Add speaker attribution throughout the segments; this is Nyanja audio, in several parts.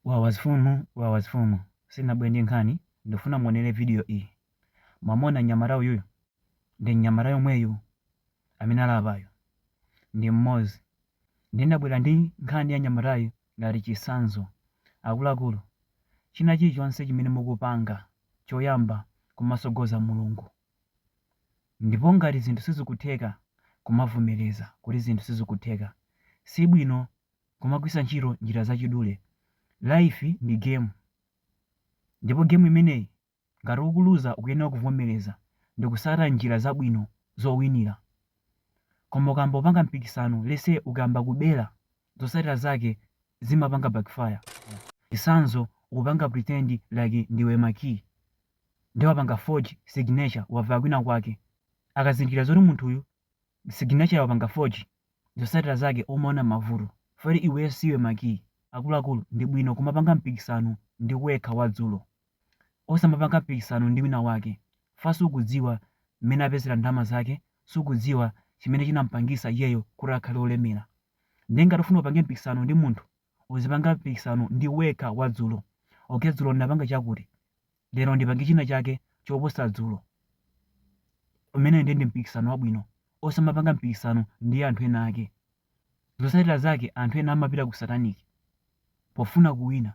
Speaker 1: Wawa mfumu wawa mfumu sinabwere ndi nkhani ndifuna muonere video iyi mwamona mnyamata uyuyu ndi mnyamata yomweyu amene ali apayu ndi mmodzi ndinabwera ndi nkhani ya mnyamatayu ngati chitsanzo akuluakulu china chilichonse chimene mukupanga choyamba kumatsogoza mulungu ndipo ngati zinthu sizikutheka kumavomereza kuti zinthu sizikutheka si bwino kumagwiritsa ntchito njira zachidule. Life ndi game ndipo game imeneyi ngati ukuluza ukuyenera kuvomereza ndi kutsata njira zabwino zowinira. Koma ukayamba kupanga mpikisano let's say ukayamba kubera zotsatira zake zimapanga backfire. Chitsanzo ukupanga pretend like ndiwe Makii nde wapanga forge signature waba kwina kwake akazindikira zoti munthuyu signature wapanga forge zosatira zake umaona mavuto fori iweyo siwe makiyi akuluakulu ndi bwino kumapanga mpikisano ndi wekha wadzulo osamapanga mpikisano ndi wina wake fa sukudziwa mmene apezera ndalama zake sukudziwa chimene chinampangisa iyeyo kuti akhale olemera ndiye ngati ufuna upange mpikisano ndi munthu uzipanga mpikisano ndi wekha wadzulo okay dzulo ndinapanga chakuti Lero ndipange china chake choposa dzulo. Umenewo ndiye ndi mpikisano wabwino. Osamapanga mpikisano ndi anthu ena ake. Zotsatira zake anthu ena amapita ku satanic pofuna kuwina.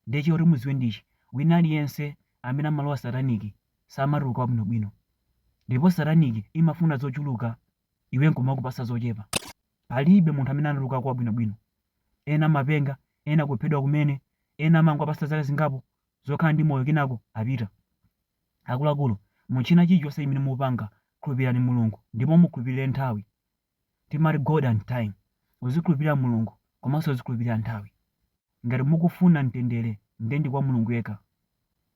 Speaker 1: Ndiye choti mudziwe ndi ichi, wina aliyense amene amalowa satanic samatuluka wabwinobwino. Ndipo satanic imafuna zochuluka iwe nkumakupatsa zochepa. Palibe munthu amene anatulukako wabwinobwino. Ena amapenga, ena kuphedwa kumene, ena amangowapatsa zaka zingapo zokhala ndi moyo kenako apita. Akuluakulu, mu china chilichonse chimene mupanga khulupirirani Mulungu ndipo mukhulupirire nthawi. Timati God and time. Uzikhulupirira Mulungu komanso uzikhulupirira nthawi. Ngati mukufuna mtendere nde ndi kwa Mulungu yekha.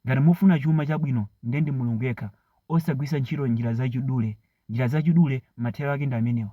Speaker 1: Ngati mufuna chuma chabwino nde ndi Mulungu yekha osagwiritsa ntchito njira zachidule. Njira zachidule mathero ake ndi amenewa.